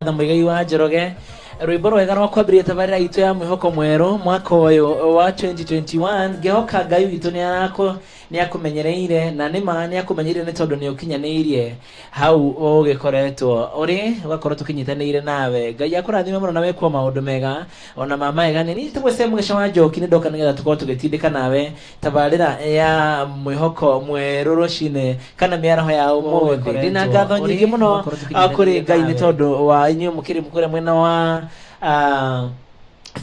Martha Muigai wa Njoroge rwimbo rwega rwa kwambĩrĩria tabarĩra itũ ya mwĩhoko mwerũ mwaka ũyũ wa 2021 ngehoka ngai witũ nĩ arakũ nĩ akũmenyereire na nĩ ma nĩ akũmenyereire nĩ tondũ nĩ ũkinyanĩirie hau ũgĩkoretwo ũrĩ ũgakorwo tũkĩnyitanĩire nawe ngai akũrathime mũno na wekwo maũndũ mega ona ma magegania niĩ njĩtagwo Sam Gĩcũa Njoki nĩ ndoka nĩgetha tũkorwo tũgĩtindĩka nawe tabarĩra ya mwĩhoko mwerũ rũcinĩ kana mĩaraho ya ũmũthĩ ndĩ na ngatho nyingĩ mũno ah, kũrĩ ngai nĩ tondũ wa inyuĩ mũkĩrĩ kũrĩa mwena wa ah,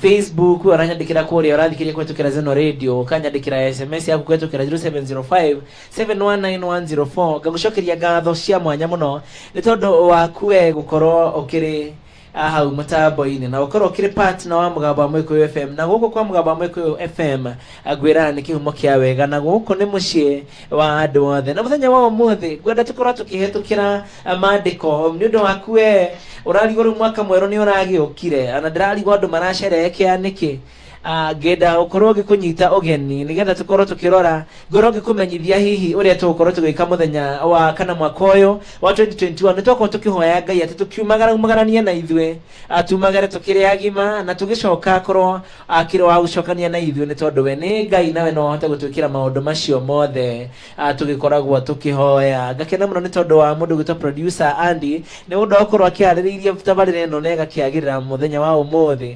facebook oranyandĩkĩra kũrĩa ũrathikĩria kũhetũkĩra zeno radio ũkanyandĩkĩra sms yaku kũhetũkĩra 0705 719104 ngagũcokeria ngatho cia mwanya mũno nĩ tondũ waku we gũkorwo ũkĩrĩ a hau mũtambo-inĩ na ũkorwo ũkĩrĩ partner wa mũgambo wa mũĩkũyũ fm na gũkũ kwa mũgambo wa mũĩkũyũ fm ngwĩraga nĩ kĩhumo kĩa wega na gũkũ nĩ mũciĩ wa andũ othe na mũthenya wa ũmũthĩ ngwenda tũkorwo tũkĩhetũkĩra eh, maandĩko nĩ ũndũ waku we ũrarigwo rĩu mwaka mwerũ nĩ ũragĩũkire na ndĩrarigwo andũ maracerehekea nĩkĩ Ah, ngenda gũkorwo ngĩkũnyita ũgeni nĩgetha tũkorwo tũkĩrora ngorwo ngĩkũmenyithia hihi ũrĩa tũgũkorwo tũgĩka mũthenya wa kana mwaka ũyũ wa 2021 nĩ twakorwo tũkĩhoya ngai atĩ tũkiumagara umagaranie na ithuĩ ah, tumagare tũkĩrĩ agima na tũgĩcoka korwo akĩrĩ wa gũcokania na ithuĩ nĩ tondũ we nĩ ngai nawe no ahote gũtwĩkĩra maũndũ macio mothe ah, tũgĩkoragwo tũkĩhoya ngakena mũno nĩ tondũ wa mũndũ gwĩtwo producer Andy nĩ ũndũ wa gũkorwo akĩarĩrĩirie tabarĩra ĩno na ĩgakĩagĩrĩra mũthenya wa ũmũthĩ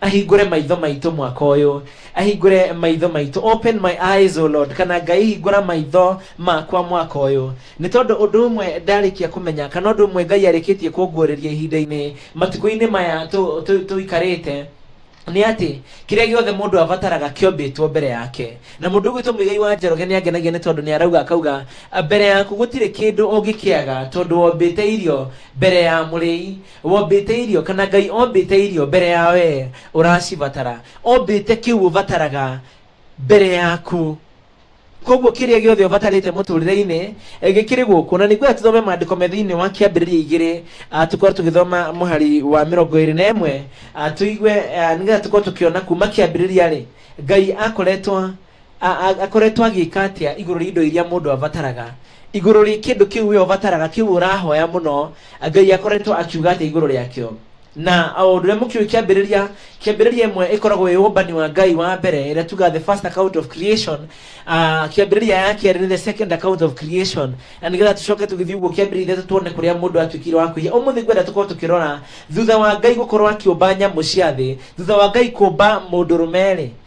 ahingũre maitho maitũ mwaka ũyũ ahingũre maitho maitũ open my eyes o lord kana ngai hingũra maitho makwa mwaka ũyũ nĩ tondũ ũndũ ũmwe ndarĩkia kũmenya kana ũndũ ũmwe ngai arĩkĩtie kũnguũrĩria ihinda-inĩ matukũ-inĩ maya tũ- tũ- tũikarĩte nĩ atĩ kĩrĩa gĩothe mũndũ abataraga kĩombĩtwo mbere yake na mũndũ ũgwĩtwo mũigai wa njoroge nĩ angenagia nĩ tondũ nĩ arauga akauga "A, mbere yaku gũtirĩ kĩndũ ũngĩkĩaga tondũ wombĩte irio mbere ya mũrĩi wombĩte irio kana ngai ombĩte irio mbere ya wee ũracibatara ombĩte kĩu ũbataraga mbere yaku koguo kĩrĩa gĩothe ũbatarĩte mũtũrĩre-inĩ eh, gĩkĩrĩ gũkũ na nĩguo tũthome maandĩko me thĩinĩ wa kĩambĩrĩria igĩrĩ ah, tũkorwo tũgĩthoma mũhari wa mĩrongo ĩrĩ na ĩmwe ah, tũigue ah, nĩgetha tũkorwo tũkĩona kuma kĩambĩrĩria rĩ ngai akoretwo akoretwo agĩka atĩa igũrũ rĩa indo iria mũndũ abataraga igũrũ rĩa kĩndũ kĩu we ũbataraga kĩu ũrahoya mũno ngai akoretwo akiuga atĩa igũrũ rĩakĩo na o ũndũ ũrĩa mũkĩũĩ kĩambĩrĩria kĩambĩrĩria ĩmwe ĩkoragwo ĩ ũmbani wa ngai wa mbere ĩrĩa tuga the first account of creation uh, kĩambĩrĩria ya kerĩ nĩ the second account of creation na nĩgetha tũcoke tũgĩthiĩ ũguo kĩambĩrĩria ithatũ tuone kũrĩa mũndũ atuĩkire wa kũiya ũmũthĩ ngwenda tũkorwo tũkĩrora thutha wa ngai gũkorwo akĩũmba nyamũ cia thĩ thutha wa ngai kũmba mũndũ rũmerĩ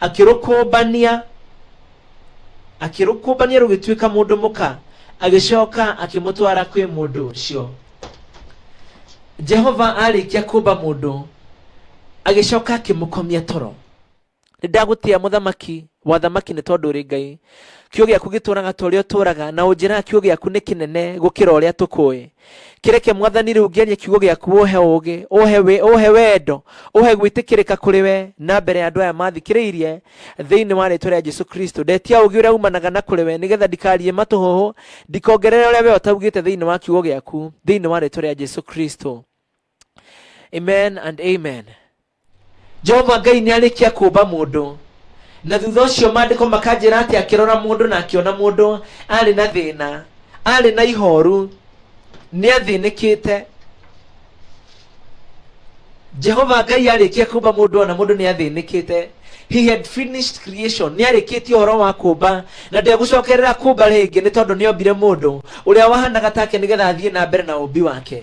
akĩrũkũmbania akĩrũkũmbania rũgĩtuĩka mũndũ mũka agĩcoka akĩmũtwara kwĩ mũndũ ũcio jehova arĩkia kũmba mũndũ agĩcoka akĩmũkomia toro nĩndagũtĩa mũthamaki wathamaki nĩ tondũ ũrĩ ngai kiugo gĩaku gĩtũraga ta ũrĩa ũtũraga na ũnjĩraga kiugo gĩaku nĩ kĩnene gũkĩra ũrĩa tũkũĩ kĩreke mwathani rĩu ngĩarie kiugo gĩaku ũhe ũgĩ ũhe, wĩ, ũhe wendo ũhe gwĩtĩkĩrĩka kũrĩ we na mbere ya andũ aya mathikĩrĩirie thĩinĩ wa rĩtwa rĩa jesu kristo ndetia ũgĩ ũrĩa umanaga na kũrĩ we nĩgetha ndikarie matũhũhũ ndikongerere ũrĩa we ũtaugĩte thĩinĩ wa kiugo gĩaku thĩinĩ wa rĩtwa rĩa jesu kristo amen and amen jehova ngai nĩ arĩkia kũmba mũndũ na thutha ũcio maandĩko makanjĩra atĩ akĩrora mũndũ na akĩona mũndũ arĩ na thĩna arĩ na ihoru nĩ athĩnĩkĩte jehova ngai arĩkia kũmba mũndũ ona mũndũ nĩ athĩnĩkĩte he had finished creation nĩ arĩkĩtie ũhoro wa kũmba na ndegũcokerera kũmba rĩngĩ nĩ tondũ nĩ ombire mũndũ ũrĩa wahanaga take nĩgetha athiĩ na mbere na ũmbi wake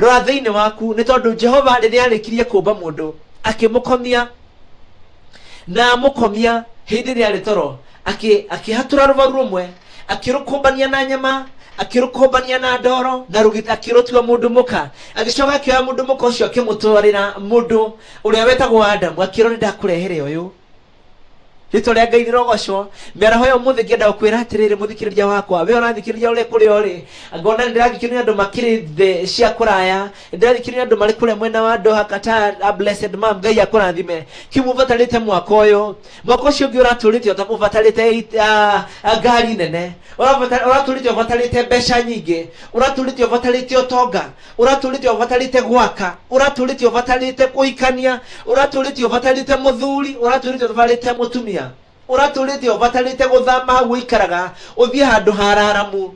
Rora thĩinĩ waku, nĩ tondũ Jehova rĩrĩa aarĩkirie kũmba mũndũ, akĩmũkomia na amũkomia hĩndĩ ĩrĩa arĩ toro, akĩ, akĩhatũra rũbaru rũmwe, akĩrũkũmbania na nyama, akĩrũkũmbania na ndoro na rũgita, akĩrũtua mũndũ mũka. Agĩcoka akĩoya mũndũ mũka ũcio akĩmũtwarĩra mũndũ ũrĩa wetagwo Adamu, akĩrwo nĩ ndakũrehere ũyũ. rĩtwa rĩa ngai rĩrogocwo mĩaraho ya ũmũthĩ ngĩenda gũkwĩra atĩrĩrĩ mũthikĩrĩria wakwa we ũrathikĩrĩria ũrĩ kũrĩa ũrĩ ngona nĩ ndĩrathikĩrĩria andũ makĩrĩ thĩ cia kũraya nĩ ndĩrathikĩrĩria andũ marĩ kũrĩa mwena wa ndoha kata a blessed mam ngai akũrathime kĩu mũbatarĩte mwaka ũyũ mwaka ũcio ũngĩ ũratũrĩte ũta- ũbatarĩte it- ah, ah, ngari nene Ũrabata- ũratũrĩte ũbatarĩte mbeca nyingĩ ũratũrĩte ũbatarĩte ũtonga ũratũrĩte ũbatarĩte gwaka ũratũrĩte ũbatarĩte kũikania ũratũrĩte ũbatarĩte mũthuri ũratũrĩte ũbatarĩte mũtumia ũratũrĩte ũbatarĩte gũthama hau ũikaraga ũthiĩ handũ hararamu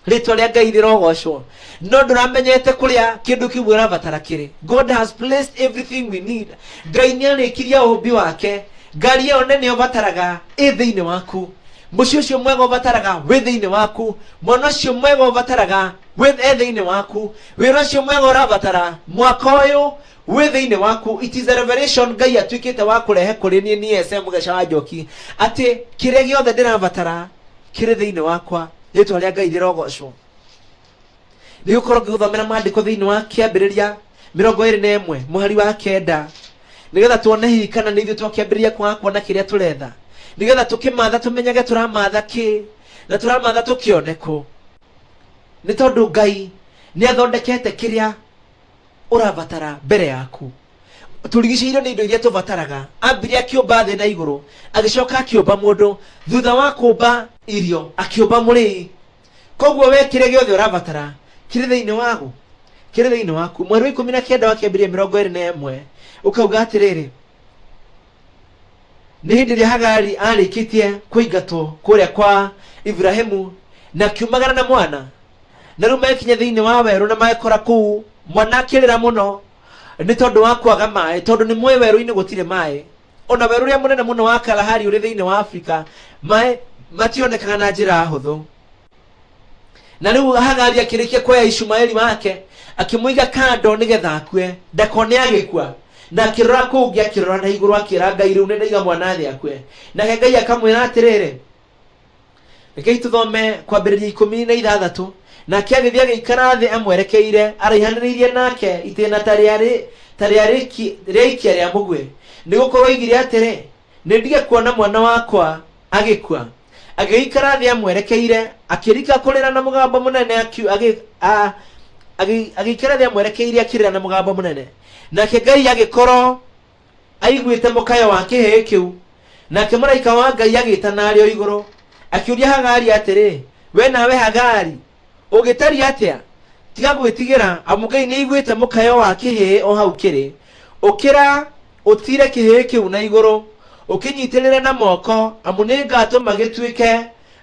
rĩtwa rĩa ngai rĩrogocwo no ndũramenyete kũrĩa kĩndũ kĩu ũrabatara kĩrĩ god has placed everything we need ngai nĩ arĩkirie ũmbi wake ngari ĩyo nene ũbataraga ĩ thĩinĩ waku mũciĩ ũcio mwega ũbataraga wĩ thĩinĩ waku mwana ũcio mwega ũbataraga wĩ e thĩinĩ waku wĩra ũcio mwega ũrabatara mwaka ũyũ wĩ thĩinĩ waku it is a revelation ngai atuĩkĩte wa kũrehe kũrĩ niĩ niĩ ese mũgeca wa njoki atĩ kĩrĩa gĩothe ndĩrabatara kĩrĩ thĩinĩ wakwa rĩtwa rĩa ngai rĩrogocwo nĩ gũkorwo ngĩgũthomera maandĩko thĩinĩ wa kĩambĩrĩria mĩrongo ĩrĩ na ĩmwe mũhari wa kenda nĩgetha tuone hihi kana nĩ ithuĩ twakĩambĩrĩria kwaga kuona kĩrĩa tũretha nĩgetha tũkĩmatha tũmenyage tũramatha kĩ na tũramatha tũkĩone kũ Nĩ tondũ Ngai nĩ athondekete kĩrĩa ũrabatara mbere yaku. Tũrigicĩirio nĩ indo iria tũbataraga. Ambire akĩũmba thĩ na igũrũ, agĩcoka akĩũmba mũndũ. Thutha wa kũũmba irio, akĩũmba mũrĩi. Koguo we kĩrĩa gĩothe ũrabatara kĩrĩ thĩinĩ wagu, kĩrĩ thĩinĩ waku. Mweri wa ikũmi na kenda wa Kĩambĩrĩria mĩrongo ĩrĩ na ĩmwe ũkauga atĩrĩrĩ, nĩ hĩndĩ ĩrĩa hagari arĩkĩtie kũingatwo kũrĩa kwa iburahimu na kiumagara na mwana na rĩu mekinya thĩinĩ wa werũ na magekora kũu mwana akĩrĩra mũno nĩ tondũ wa kwaga maĩ tondũ nĩ mũĩ werũ-inĩ gũtirĩ maĩ ona werũ ũrĩa mũnene mũno wa kalahari ũrĩ thĩinĩ wa afrika maĩ mationekaga na njĩra hũthũ na rĩu hagari akĩrĩkia kuoya ishumaeli wake akĩmũiga kando nĩgetha akue ndakone agĩkua na akĩrora kũu ngĩ akĩrora na igũrũ akĩra ngai rĩu nĩndaiga mwana thĩ akue nake ngai akamwĩra atĩrĩrĩ rekei tũthome kwambĩrĩria ikũmi na ithathatũ nake agĩthiĩ agĩikara thĩ amwerekeire araihanĩrĩirie nake itĩna ta rĩarĩ ta rĩarĩki- rĩaikia rĩa mũguĩ nĩ gũkorwo oigire atĩrĩ Nĩ ndige kuona mwana wakwa agĩkua. Agĩgĩikara thĩ amwerekeire, akĩrika kũrĩra na mũgambo mũnene, akiu- agĩ- a- agĩ- agĩikara thĩ amwerekeire akĩrĩra na mũgambo mũnene. Nake Ngai agĩkorwo aiguĩte mũkayo wa kĩhĩĩ kĩu. Nake mũraika wa Ngai agĩĩtana arĩ o igũrũ, akĩũria Hagari atĩrĩ, We nawe Hagari, ũngĩtariĩ atĩa tiga gwĩtigĩra amu ngai nĩaiguĩte mũkayo wa kĩhĩĩ o hau kĩrĩ ũkĩra ũtire kĩhĩĩ kĩu na igũrũ ũkĩnyitĩrĩre na moko amu nĩngatũma gĩtuĩke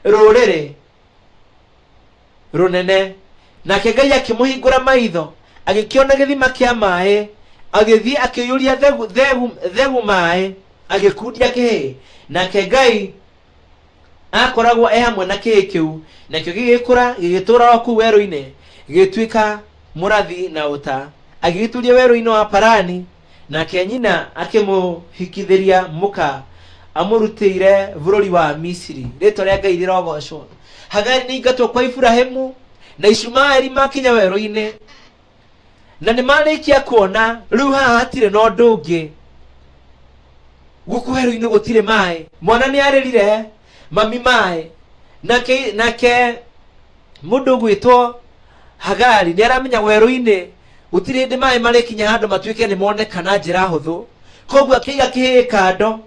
rũrĩrĩ rũnene nake ngai akĩmũhingũra maitho agĩkĩona gĩthima kĩa maĩ agĩthiĩ akĩiyũria thegu, thegu, thegu maĩ agĩkundia kĩhĩĩ nake ngai aakoragwo e hamwe na kĩĩ kĩu nakĩo gĩgĩkũra gĩgĩtũũra o kũu werũ-inĩ gĩgĩtuĩka mũrathi na ũta agĩgĩturia werũ-inĩ wa parani nake nyina akĩmũhikithĩria mũka amũrutĩire bũrũri wa misiri rĩtwa rĩa ngai rĩrogocwo hagari nĩ ingatwo kwa iburahimu na ishumaeli makinya werũ-inĩ na nĩ marĩkia kuona rĩu haha hatirĩ na ũndũ ũngĩ gũkũ werũ-inĩ gũtirĩ maĩ mwana nĩ arĩrire mami maĩ nake nake mũndũ ũgwĩtwo hagari nĩ aramenya werũ-inĩ gũtirĩ hĩndĩ maĩ marĩkinya handũ matuĩke nĩ moneka na njĩra hũthũ koguo akĩiga kĩhĩĩ kando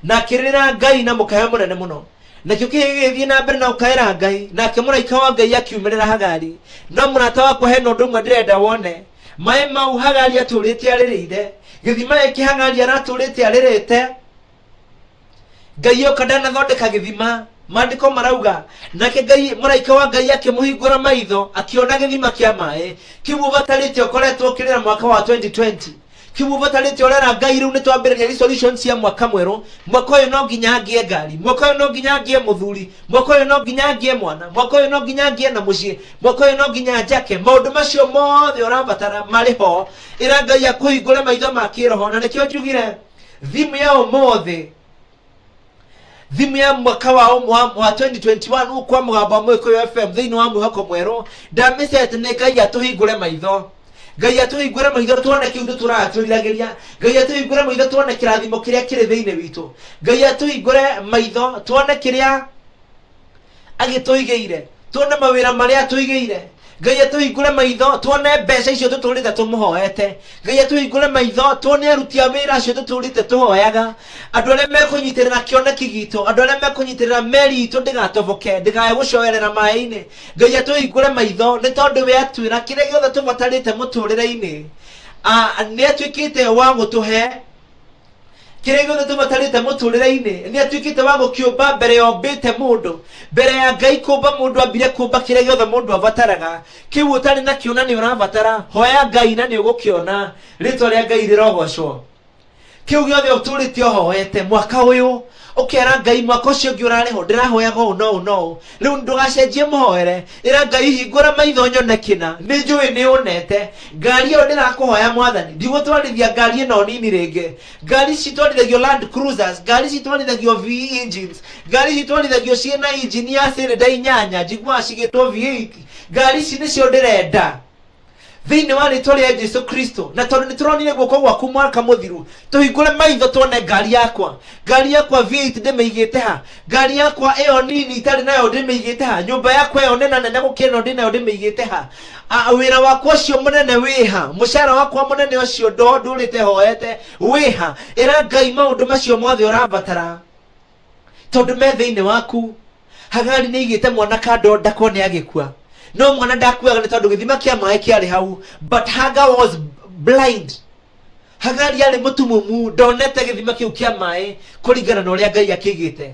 na akĩrĩra ngai na mũkayo mũnene mũno nakĩo kĩhĩ gĩgĩthiĩ na mbere na gũkaĩra ngai nake mũraika wa ngai akiumĩrĩra hagari no mũrata wakwa hena ũndũ ũmwe ndĩrenda wone maĩ mau hagari atũrĩte arĩrĩire gĩthima gĩkĩ hagari aratũrĩte arĩrĩte ngai oka ndanathondeka gĩthima maandĩko marauga nake ngai mũraika wa ngai akĩmũhingũra maitho akĩona gĩthima kĩa maĩ kĩu ũbatarĩte ũkoretwo ũkĩrĩra mwaka wa 2020 kimubatari ti orera ngai riu nitwambiriria resolution cia mwaka mweru mwaka uyu no nginya ngie ngari mwaka uyu no nginya ngie muthuri mwaka uyu no nginya ngie mwana mwaka uyu no nginya ngie na mucii mwaka uyu no nginya njake maundu macio mothe urabatara mari ho ira ngai akuhingure maitho ma kiroho na nikio njugire thimu ya umuthi thimũ ya mwaka wa ũmwe wa wa 2021 gũkũ kwa mũgambo wa mũgĩkũyũ fm thĩinĩ wa mwĩhoko mwerũ ndamĩcete nĩ ngai atũhingũre maitho ngai atũhingũre maitho tuone kĩu nĩ tũratũriragĩria ngai atũhingũre maitho tuone kĩrathimo kĩrĩa kĩrĩ thĩinĩ witũ ngai atũhingũre maitho tuone kĩrĩa agĩtũigĩire tuone mawĩra marĩa atũigĩire ngai atũhingũre maitho tuone mbeca icio tũtũrĩte tũmũhoete ngai atũhingũre maitho tuone aruti a wĩra acio tũtũrĩte tũhoyaga andũ arĩa mekũnyitĩrĩra kĩoneki gitũ andũ arĩa mekũnyitĩrĩra meri itũ ndĩgatoboke ndĩkae gũcoerera maĩ-inĩ ngai atũhingũre maitho nĩ tondũ we atwĩra kĩrĩa gĩothe tũbatarĩte mũtũrĩre-inĩ nĩ atuĩkĩte wa gũtũhe kĩrĩa gĩothe tũbatarĩte mũtũrĩre-inĩ nĩ atuĩkĩte wa gũkĩũmba mbere ya ombĩte mũndũ mbere ya ngai kũmba mũndũ ambire kũmba kĩrĩa gĩothe mũndũ abataraga kĩu ũtarĩ nakĩo na nĩ ũrabatara hoya ngai na nĩ ũgũkĩona rĩtwa rĩa ngai rĩrogocwo kĩu gĩothe ũtũrĩte ũhoete mwaka ũyũ ũkera ngai mwaka ũcio ũngĩ ũrarĩ ho ndĩrahoyaga ũũ na ũũ na ũũ rĩu ndũgacenjie mũhoere ĩra ngai hingũra maitho nyone kĩna nĩ njũĩ nĩ ũnete ngari ĩyo ndĩrakũhoya mwathani ndigũtwarithia ngari ĩno nini rĩngĩ ngari ici itwarithagio land cruisers ngari ici itwarithagio v engines ngari ici itwarithagio ciĩ na injini ya cylinder inyanya njiguaga cigĩtwo v8 ngari ici nĩcio ndĩrenda thĩinĩ wa rĩtwa rĩa jesu kristo na tondũ nĩ tũronire guoko gwaku mwaka mũthiru tũhingũre maitho tuone ngari yakwa ngari yakwa v8 ndĩmĩigĩte ha ngari yakwa ĩyo nini itarĩ nayo ndĩmĩigĩte ha nyũmba yakwa ĩyo nena nene gũkĩra ĩno ndĩ nayo ndĩmĩigĩte ha A- wĩra wakwa ũcio mũnene wĩ ha mũcara wakwa mũnene ũcio ndo ndũrĩte hoete wĩ ha ĩra ngai maũndũ macio mothe ũrabatara tondũ me thĩinĩ waku hagari nĩ igĩte mwana kando ndakwa nĩ agĩkua no mwana ndakuaga nĩ tondũ gĩthima kĩa maĩ kĩarĩ hau but haga was blind hagari arĩ mũtumumu ndonete gĩthima kĩu kĩa maĩ kũringana na ũrĩa ngai akĩigĩte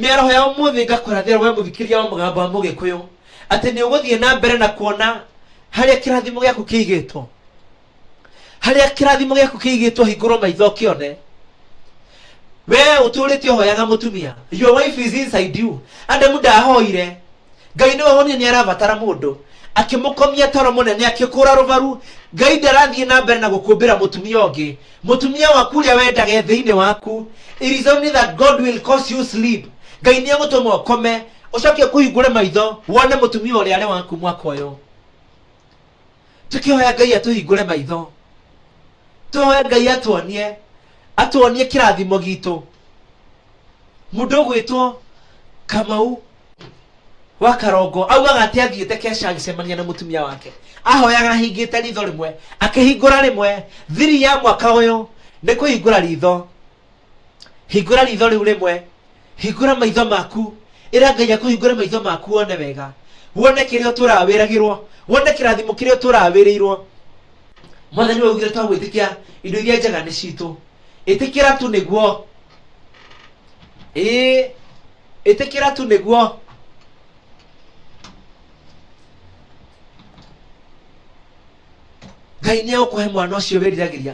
mĩaraho ya ũmũthĩ ngakũrathĩra we mũthikĩria wa mũgambo wa mũgĩkũyũ atĩ nĩ ũgũthiĩ na mbere na kuona harĩa kĩrathimo gĩaku kĩigĩtwo harĩa kĩrathimo gĩaku kĩigĩtwo hingũrwo maitho ũkĩone wee ũtũrĩte ũhoyaga mũtumia your wife is inside you adamu ndahoire ngai nĩwe wonire nĩ arabatara mũndũ akĩmũkomia toro mũnene akĩkũra rũbaru ngai ndarathiĩ na mbere na gũkũmbĩra mũtumia ũngĩ mũtumia waku ũrĩa wendage thĩinĩ waku it is only that god will cause you sleep ngai nĩ egũtũma ũkome ũcoke kũhingũre maitho wone mũtumia ũrĩa arĩ waku mwaka ũyũ tũkĩhoya ngai atũhingũre maitho tũhoya ngai atuonie atuonie kĩrathimo gitũ mũndũ ũgwĩtwo kamau wa karongo augaga atĩ athiĩte keca agĩcemania na mũtumia wake ahoyaga ahingĩte ritho rĩmwe akĩhingũra rĩmwe thiri ya mwaka ũyũ nĩ kũhingũra ritho hingũra ritho rĩu rĩmwe hingũra maitho maku ĩra ngai akũhingũre maitho maku wone wega wone kĩrĩa ũtũraga wĩragĩrwo wone kĩrathimo kĩrĩa ũtũraga wĩrĩirwo mwathani waugire twa gwĩtĩkia indo iria njega nĩ citũ ĩtĩkĩra tu nĩguo ĩĩ ĩtĩkĩra tu nĩguo ngai nĩ egũkũhe mwana ũcio wĩriragĩria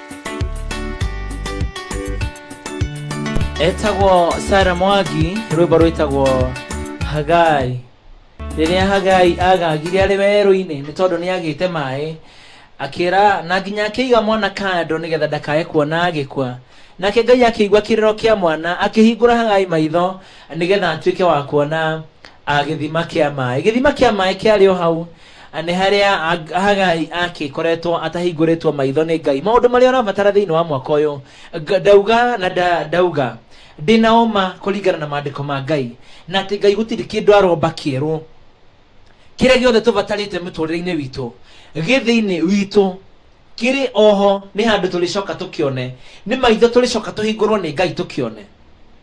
etagwo sara mwagi rwimbo rwitagwo hagai rĩrĩa hagai agagire arĩ werũ-inĩ nĩ tondũ nĩ agĩte maĩ akĩra na nginya akĩiga mwana kando nĩgetha ndakae kuona agĩkua nake ngai akĩigua kĩrĩro kĩa mwana akĩhingũra hagai maitho nĩgetha atuĩke wa kuona ah, gĩthima kĩa maĩ gĩthima kĩa maĩ kĩarĩ o hau nĩ harĩa Ag- hagai akĩkoretwo atahingũrĩtwo maitho nĩ ngai maũndũ marĩa ũrabatara thĩinĩ wa mwaka ũyũ Nga- ndauga na nda- ndauga ndĩna ũma kũringana na maandĩko ma ngai na atĩ ngai gũtirĩ kĩndũ aromba kĩerũ kĩrĩa gĩothe tũbatarĩte mũtũrĩre-inĩ witũ gĩ thĩinĩ witũ kĩrĩ oho nĩ handũ tũrĩcoka tũkĩone nĩ maitho tũrĩcoka tũhingũrwo nĩ ngai tũkĩone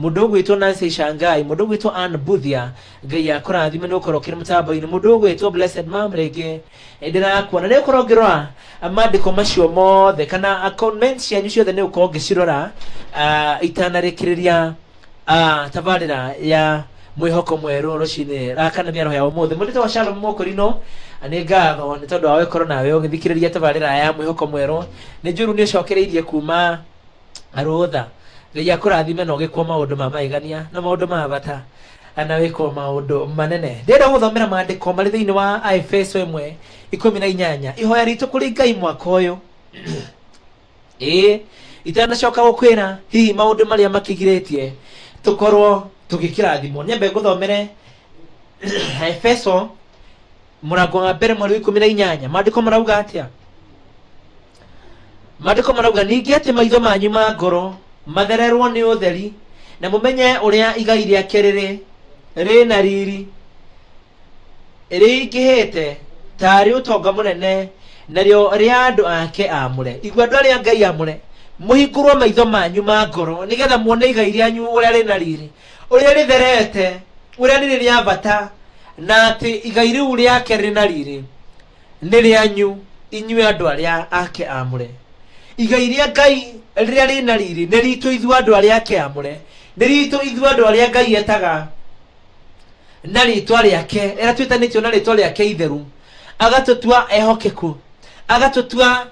Mũndũ ũgwĩtwo Nancy Shangai, mũndũ ũgwĩtwo Ann Buthia, Ngai akũrathime nĩ ũkorwo ũkĩrĩ mũtambo-inĩ, mũndũ ũgwĩtwo Blessed Mom rĩngĩ eh, ndĩrakuona nĩ ũkorwo ngĩrora ah, maandĩko macio mothe kana ah, comment cianyu ciothe nĩ ũkorwo ngĩcirora ah, itanarĩkĩrĩria ah, tabarĩra ya mwĩhoko mwerũ rũcinĩ ah, kana mĩaraho ya ũmũthĩ mũndũ tagwo Shalom Mũkũrinũ ah, nĩ ngatho nĩ tondũ wa gũkorwo nawe ũgĩthikĩrĩria tabarĩra ya mwĩhoko mwerũ nĩ njũru nĩ ũcokereirie kuma rũtha ngai akũrathime na ũgĩkwo maũndũ ma magegania na maũndũ ma bata na wĩkwo maũndũ manene ndĩrenda gũthomera maandĩko marĩ thĩinĩ wa aefeso ĩmwe ikũmi na inyanya ihoya ritũ kũrĩ ngai mwaka ũyũ ĩĩ itanacoka gũkwĩra hihi maũndũ marĩa makĩgirĩtie tũkorwo tũgĩkĩrathimwo nyambe ngũthomere aefeso mũrango wa mbere mweri wa ikũmi na inyanya maandĩko marauga atĩa maandĩko marauga ningĩ atĩ maitho manyu ma ngoro mathererwo nĩ ũtheri na mũmenye ũrĩa igai rĩake rĩrĩ rĩ na riri rĩingĩhĩte tarĩ ũtonga mũnene narĩo rĩa andũ ake amũre igua andũ arĩa ngai amũre mũhingũrwo maitho manyu ma ngoro nĩgetha muone igai rĩanyu ũrĩa rĩ na riri ũrĩa rĩtherete, ũrĩa rĩrĩ rĩa bata, na atĩ igai rĩu rĩake rĩrĩ na riri nĩ rĩanyu inyuĩ andũ arĩa ake amũre. Igai rĩa Ngai rĩrĩa rĩrĩ na riri nĩ ritũ ithuĩ andũ arĩa ake amũre, nĩ ritũ ithuĩ andũ arĩa Ngai etaga na rĩtwa rĩake, arĩa twĩtanĩtio na rĩtwa rĩake itheru, agatũtua ehokeku, agatũtua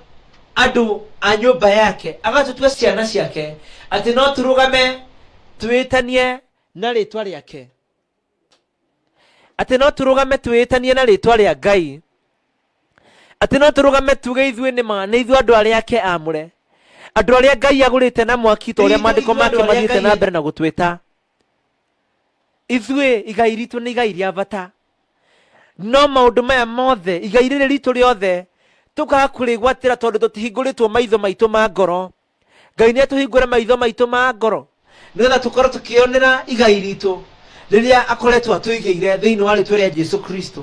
andũ a nyũmba yake, agatũtua ciana ciake, atĩ no tũrũgame twĩĩtanie na rĩĩtwa rĩake, atĩ no tũrũgame twĩĩtanie na rĩĩtwa rĩa Ngai, atĩ no tũrũgame tuge ithuĩ nĩ ma nĩ ithuĩ andũ arĩa ake amũre, andũ arĩa Ngai agũrĩte na mwaki, ta ũrĩa Ithuĩ- maandĩko ithuĩ andũ make arĩa mathiĩte Ngai- na mbere na gũtwĩta. ithuĩ igai ritũ nĩ igai rĩa bata no maũndũ maya mothe igai rĩrĩ ritũ rĩothe tũkaga kũrĩgwatĩra tondũ tũtihingũrĩtwo maitho maitũ ma ngoro ngai nĩ atũhingũre maitho maitũ ma ngoro nĩgetha tũkorwo tũkĩonera igai ritũ rĩrĩa akoretwo atũigĩire thĩinĩ wa rĩtwa rĩa jesu kristo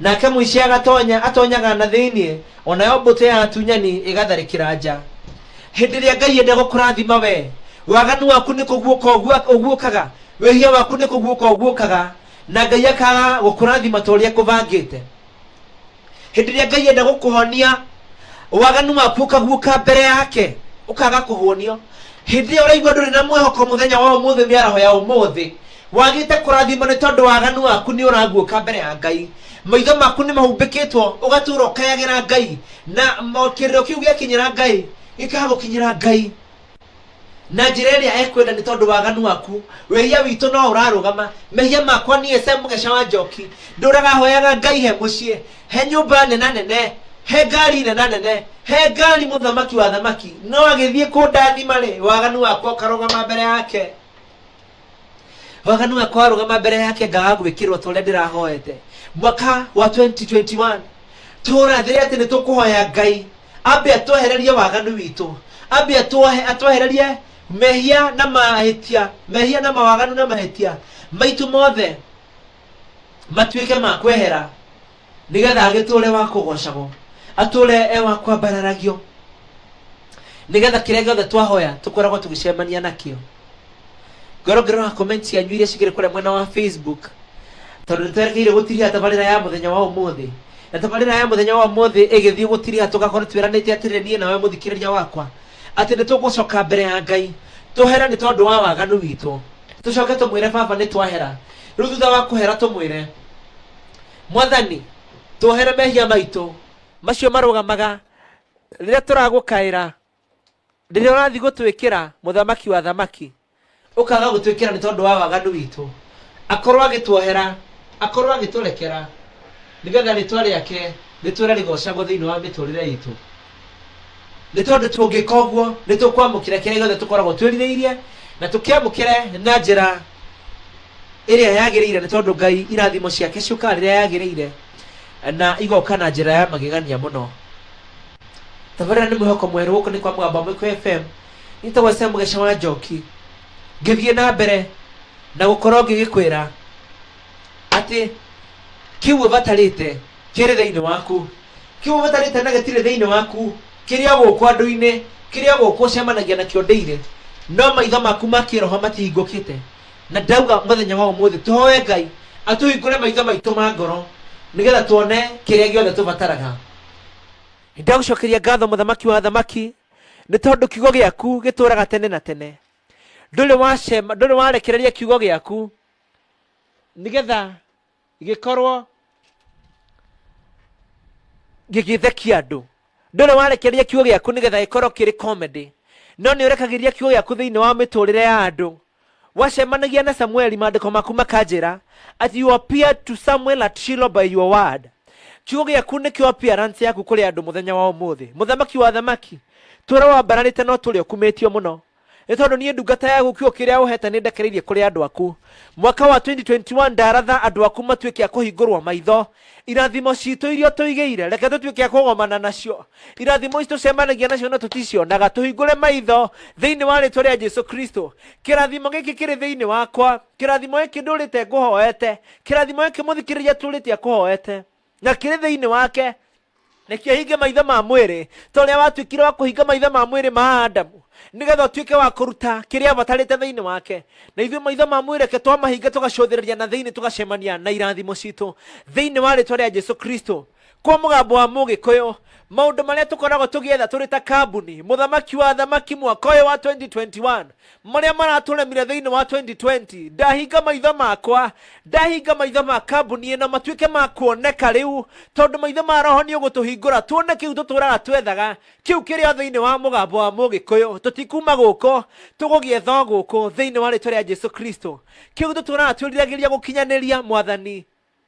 Nake mũici agatonya, atonyaga na thĩinĩ, o nayo mbũtũ ya atunyani ĩgatharĩkĩra nja. Hĩndĩ ĩrĩa Ngai enda gũkũrathima we, waganu waku nĩ kũguũka ũgua- ũguũkaga, wĩhia waku nĩ kũguũka ũguũkaga, na Ngai akaga gũkũrathima ta ũrĩa ekũbangĩte. Hĩndĩ ĩrĩa Ngai enda gũkũhonia, waganu waku ũkaguũka mbere yake, ũkaga kũhonio. Hĩndĩ ĩyo ũraigua ndũrĩ na mwĩhoko mũthenya wa ũmũthĩ, mĩaraho ya ũmũthĩ, wagĩte kũrathimwo nĩ tondũ waganu waku nĩ ũraguũka mbere ya ngai maitho maku nĩ mahumbĩkĩtwo ũgatũra ũkayagĩra ngai na kĩrĩro kĩu gĩakinyĩra ngai gĩkagũkinyĩra ngai na njĩra ĩrĩa ekwenda nĩ tondũ waganu waku wĩhia witũ no ũrarũgama mehia makwa niĩ se mũgeca wa njoki ndũraga hoyaga ngai he mũciĩ he nyũmba nena nene he ngari nena nene he ngari mũthamaki wa thamaki no agĩthiĩ kũndathima rĩ waganu wakwa ũkarũgama mbere yake waganu wa kwarũgama mbere yake ngaga gwĩkĩrwo ta ũrĩa ndĩrahoete mwaka wa 2021 tũrathĩre atĩ nĩ tũkũhoya ngai ambe atwehererie waganu witũ ambe atwohe- atwehererie mehia na mahĩtia mehia na mawaganu na mahĩtia maitũ mothe matuĩke ma kwehera nĩgetha agĩtũũre wa kũgoocagwo atũũre e wa kwambararagio nĩgetha kĩrĩa gĩothe twahoya tũkoragwo tũgĩcemania nakĩo ngoro ngĩrora comment cianyu iria cikĩrĩ kũrĩa mwena wa facebook tondũ nĩtwerekeire gũtiriha tabarĩra ya mũthenya wa ũmũthĩ na tabarĩra ya mũthenya wa ũmũthĩ ĩgĩthiĩ gũtiriha tũgakorwo twĩranĩte atĩrĩ niĩ nawe mũthikĩrĩria wakwa atĩ nĩtũgũcoka mbere ya ngai tũhere nĩ tondũ wa waganu witũ tũcoke tũmwĩre baba nĩ twahera rĩu thutha wa kũhera tũmwĩre mwathani tuohere mehia maitũ macio marũgamaga rĩrĩa tũragũkaĩra rĩrĩa ũrathiĩ gũtwĩkĩra mũthamaki wa thamaki ũkaga gũtwĩkĩra nĩ tondũ wa waganu witũ akorwo agĩtuohera akorwo agĩtũrekera nĩgetha rĩtwa rĩake rĩtwĩre rĩgocagwo thĩinĩ wa mĩtũrĩre itũ Nĩ tondũ tũngĩka ũguo, nĩ tũkwamũkĩra kĩrĩa gĩothe tũkoragwo twĩrirĩirie, na tũkĩamũkĩre na njĩra ĩrĩa yagĩrĩire, nĩ tondũ Ngai irathimo ciake ciũkaga rĩrĩa yagĩrĩire, na igoka na njĩra ya magegania mũno. Tabarĩra nĩ mwĩhoko mwerũ, gũkũ nĩ kwa Mũgambo wa Mũikũ FM. Niĩ njĩtagwo Sam Mũgeca wa Njoki. Ngĩthiĩ na mbere na gũkorwo ngĩgĩkwĩra atĩ kĩu ũbatarĩte kĩrĩ thĩinĩ waku kĩu ũbatarĩte na gĩtirĩ thĩinĩ waku kĩrĩa gũkũ andũ-inĩ kĩrĩa gũkũ ũcemanagia nakĩo ndĩire no maitho maku ma kĩroho matihingũkĩte na ndauga mũthenya wa ũmũthĩ tũhoe ngai atũhingũre maitho maitũ ma ngoro nĩgetha tuone kĩrĩa gĩothe tũbataraga ndagũcokeria ngatho mũthamaki wa athamaki nĩ tondũ kiugo gĩaku gĩtũũraga tene na tene ndũrĩ wacema ndũrĩ warekereria kiugo gĩaku nĩgetha gĩkorwo gĩgĩthekia andũ ndũrĩ warekereria kiugo gĩaku nĩgetha gĩkorwo kĩrĩ comedy no nĩ ũrekagĩria kiugo gĩaku thĩinĩ wa mĩtũrĩre ya andũ wacemanagia na samueli maandĩko maku makanjĩra at you appear to samuel at shilo by your word kiugo gĩaku nĩkĩo appearance yaku kũrĩ andũ mũthenya wa ũmũthĩ mũthamaki wa thamaki tũrĩa wambararĩte no tũrĩa ũkumĩtio mũno Nĩ tondũ niĩ ndungata yaku kiugo kĩrĩa ũheete nĩndekereirie kũrĩ andũ aku. Mwaka wa 2021 ndaratha andũ aku matuĩke a kũhingũrwo maitho. Irathimo ciitũ iria ũtũigĩire, reke tũtuĩke a kũgomana nacio. Irathimo ici tũcemanagia nacio no tũticionaga. Tũhingũre maitho thĩinĩ wa rĩĩtwa rĩa Jesu Kristo. Kĩrathimo gĩkĩ kĩrĩ thĩinĩ wakwa. Kĩrathimo gĩkĩ ndũũrĩte ngũhoete. Kĩrathimo gĩkĩ mũthikĩrĩria atũũrĩte akũhoete. na kĩrĩ thĩinĩ wake nĩkĩo hinge maitho ma mwĩrĩ ta ũrĩa watuĩkire wa kũhinga maitho ma mwĩrĩ ma adamu nĩgetha ũtuĩke wa kũruta kĩrĩa abatarĩte thĩinĩ wake na ithuĩ maitho ma mwĩrĩ ke twamahinga tũgacũthĩrĩria na thĩinĩ tũgacemania na irathimo citũ thĩinĩ wa rĩtwa rĩa jesu kristo kwa mũgambo wa mũgĩkũyũ maũndũ marĩa tũkoragwo tũgĩetha tũrĩ ta kambuni mũthamaki wa thamaki mwaka ũyũ wa 2021 marĩa maratũremire thĩinĩ wa 2020 ndahinga maitho makwa ndahinga maitho ma kambuni ĩno matuĩke ma kuoneka rĩu tondũ maitho ma roho nĩ ũgũtũhingũra tuone kĩu tũtũraga twethaga kĩu kĩrĩa thĩinĩ wa mũgambo wa mũgĩkũyũ tũtikuma gũkũ tũgũgĩetha gũkũ thĩinĩ wa rĩtwa rĩa jesu kristo kĩu tũtũraga twĩriragĩria gũkinyanĩria mwathani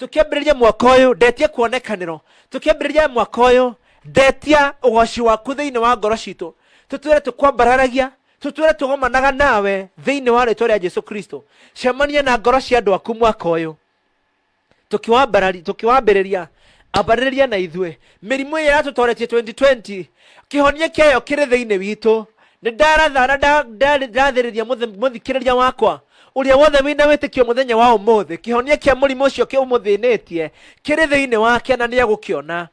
tũkĩambĩrĩria mwaka ũyũ ndetia kuonekanĩro tũkĩambĩrĩria mwaka ũyũ ndetia ũgoci waku thĩinĩ wa ngoro citũ tũtwĩre tũkwambararagia tũtwĩre tũgomanaga nawe thĩinĩ wa rĩtwa rĩa jesu kristo cemania na ngoro cia andũ aku mwaka ũyũ tũkĩwambarari- tũkĩwambĩrĩria ambarĩrĩria na ithuĩ mĩrimũ ĩrĩa yatũtoretie 2020 kĩhonia kĩayo kĩrĩ thĩinĩ witũ nĩ ndaratha na nda- nda- ndathĩrĩria mũthi- mũthikĩrĩria wakwa ũrĩa wothe wĩna wĩtĩkio mũthenya wa ũmũthĩ kĩhonia kĩa mũrimũ ũcio kĩũmũthĩnĩtie kĩrĩ thĩinĩ wake na nĩegũkĩona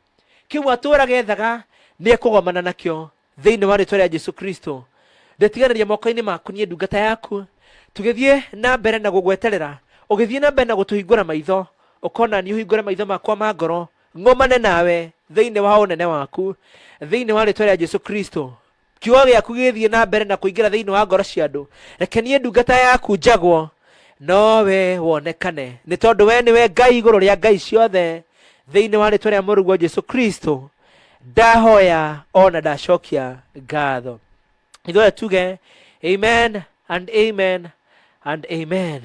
kĩu atũũraga ethaga nĩekũgomana nakĩo thĩinĩ wa rĩtwa rĩa jesu kristo ndĩtiganĩria moko-inĩ maku niĩ ndungata yaku tũgĩthiĩ na mbere na gũgweterera ũgĩthiĩ na mbere na gũtũhingũra maitho ũkona niĩ ũhingũre maitho makwa ma ngoro ng'omane nawe thĩinĩ wa ũnene waku thĩinĩ wa rĩtwa rĩa jesu kristo kiugo gĩaku gĩthiĩ na mbere na kũingĩra thĩinĩ wa ngoro cia andũ reke niĩ ndungata yaku njagwo no we wonekane nĩ tondũ we nĩwe ngai igũrũ rĩa ngai ciothe thĩinĩ wa rĩtwa rĩa mũrũguo jesu kristo ndahoya ona ndacokia ngatho ithuothe tuge amen and amen and amen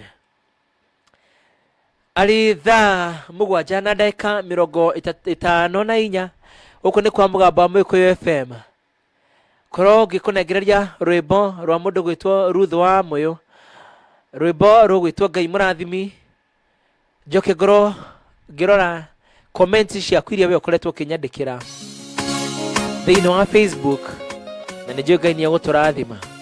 arĩ thaa mũgwanja na ndagĩka mĩrongo ĩta- ĩtano na inya gũkũ nĩ kwa mũgambo wa mũgĩkũyũ fm korwo ngĩkũnengereria rwĩmbo rwa mũndũ gwĩtwo Ruth wa Mũyũ rwĩmbo rũgwĩtwo Ngai mũrathimi njoke ngorwo ngĩrora comments ciaku iria we ũkoretwo ũkĩnyandĩkĩra thĩinĩ wa Facebook na nĩ njũĩ Ngai nĩ egũtũrathima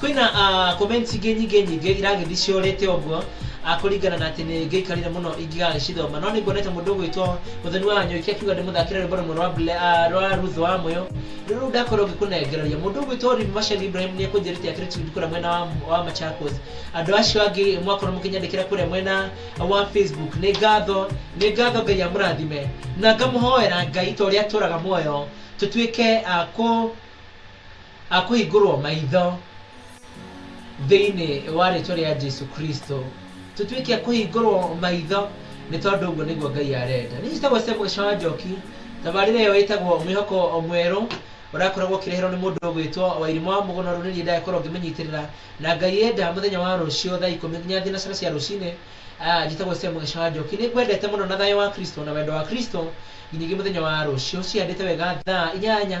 Kwĩna ah, comment ingĩ nyingĩ nyingĩ iragĩthiĩ ciorĩte ũguo ah, kũringana na atĩ nĩ ngĩikarire mũno ingĩgagĩcithoma no nĩ nguonete mũndũ ũgwĩtwo mũthoni wa nyũki akiuga ndĩmũthakĩre rwĩmbo rũmwe rwa Ble- ah, rwa Ruth wa Mũyũ rĩu rĩu ndakorwo ngĩkũnengereria mũndũ ũgwĩtwo Rimi Macagi Ibrahim nĩ ekũnjĩrĩte akĩrĩ tundi kũrĩa mwena wa, wa Machakos andũ acio angĩ mwakorwo mũkĩnyandĩkĩra kũrĩa mwena wa Facebook nĩ ngatho nĩ ngatho Ngai amũrathime na ngamũhoera Ngai ta ũrĩa atũraga muoyo tũtuĩke ah, kũ A kũhingũrwo maitho thĩinĩ wa rĩtwa rĩa Jesu Kristo. Tũtuĩke a kũhingũrwo maitho nĩ tondũ ũguo nĩguo Ngai arenda. Niĩ njĩtagwo Samuel Shawa Njoki. Tabarĩra ĩyo ĩtagwo Mwĩhoko Mwerũ ũrakoragwo ũkĩreherwo nĩ mũndũ ũgwĩtwo Wairimũ wa Mũgũnoro nĩ niĩ ndakorwo ngĩmĩnyitĩrĩra. Na Ngai enda mũthenya wa rũciũ thaa ikũmi nginya thinacara cia rũcinĩ. Ah, njĩtagwo Samuel Shawa Njoki. Nĩ ngwendete mũno na thayũ wa Kristo na wendo wa Kristo nginyagia mũthenya wa rũciũ cihandĩte wega thaa inyanya.